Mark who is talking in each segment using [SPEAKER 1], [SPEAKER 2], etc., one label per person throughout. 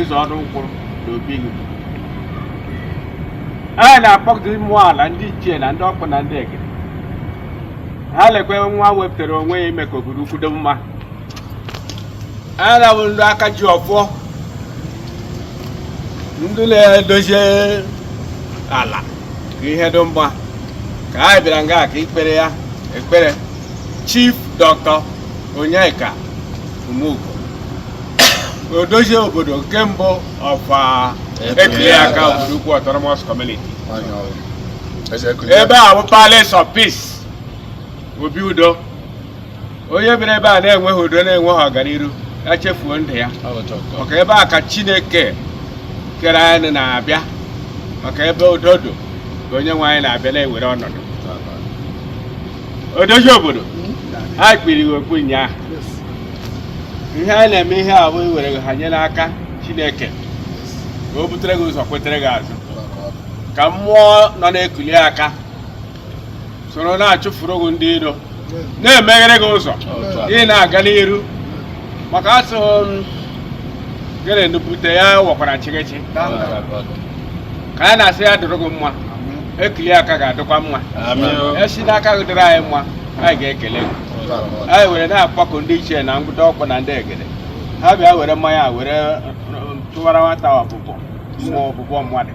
[SPEAKER 1] ịzọ ọrụ ụkwụ na obi gị anyị na-akpọgide mmụọ ala ndị ichie na ndị ọkpụ na ndị egede ha lekwa nwa wepụtara onwe ya ime ka obodo ukwu dị mma anyị na-abụ ndị aka ji ọfọ ndị na-edozi ala ka ihe dị mma ka anyị bịara nga ka ikpere ya ekpere chief doctor onyeka umeugo odozi obodo nke mbụ of ekiliaka obodo ukwu autonomous community ebe a bụ palace of peace obi udo onye biri ebe a na-enweghị udo na-enweghị ọganiru ya chefuo ndụ ya maka ebe a ka chineke kere anyị na-abịa maka ebe udo dị ka onye nwe anyị na-abịa na-ewere ọnọdụ odozi obodo ha kpuru gị okpu ụnyaahụ ihe anyị na-eme ihe a bụ iwere gị hanye n'aka chineke ka o butere gị ụzọ kpetere gị azụ ka mmụọ nọ n'ekiliaka soro na-achụfuru gị ndị iro na-emeghere gị ụzọ ị na-aga n'iru maka asụ gịnị nupụta ya wakwara chịgịchị ka anyị na-asị ya dịrị gị mma ekiliaka ga-adịkwa mma e si n'aka gị dịrị anyị mma anyị ga-ekele gị anyị were na-akpọku ndị ichie na ndị ọkpụ na ndị egede ha bịa were mmanya were tụwara nwata ọ bụ mmụọ ọ bụ mmadụ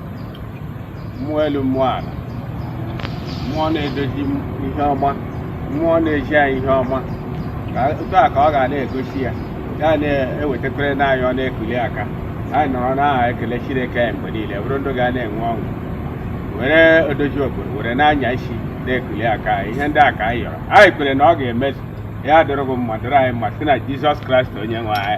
[SPEAKER 1] mmụọ elu mmụọ ala mmụọ na-edozi ihe ọma mmụọ na-enye anyị ihe ọma otu a ka ọ ga na-egosi ya ya na-ewetakwere na anyị ọ n'ekiliaka anyị nọrọ na-ekele Chineke anyị mgbe niile bụrụ ndụ ga na-enwe ọṅụ were odozi obodo were na-anya isi n'ekiliaka anyị ihe ndị a ka anyị yọrọ anyị kwere na ọ ga-emezu ya dịrị gị mma dịrị anyị mma si na Jizọs Kraịst onye nwe anyị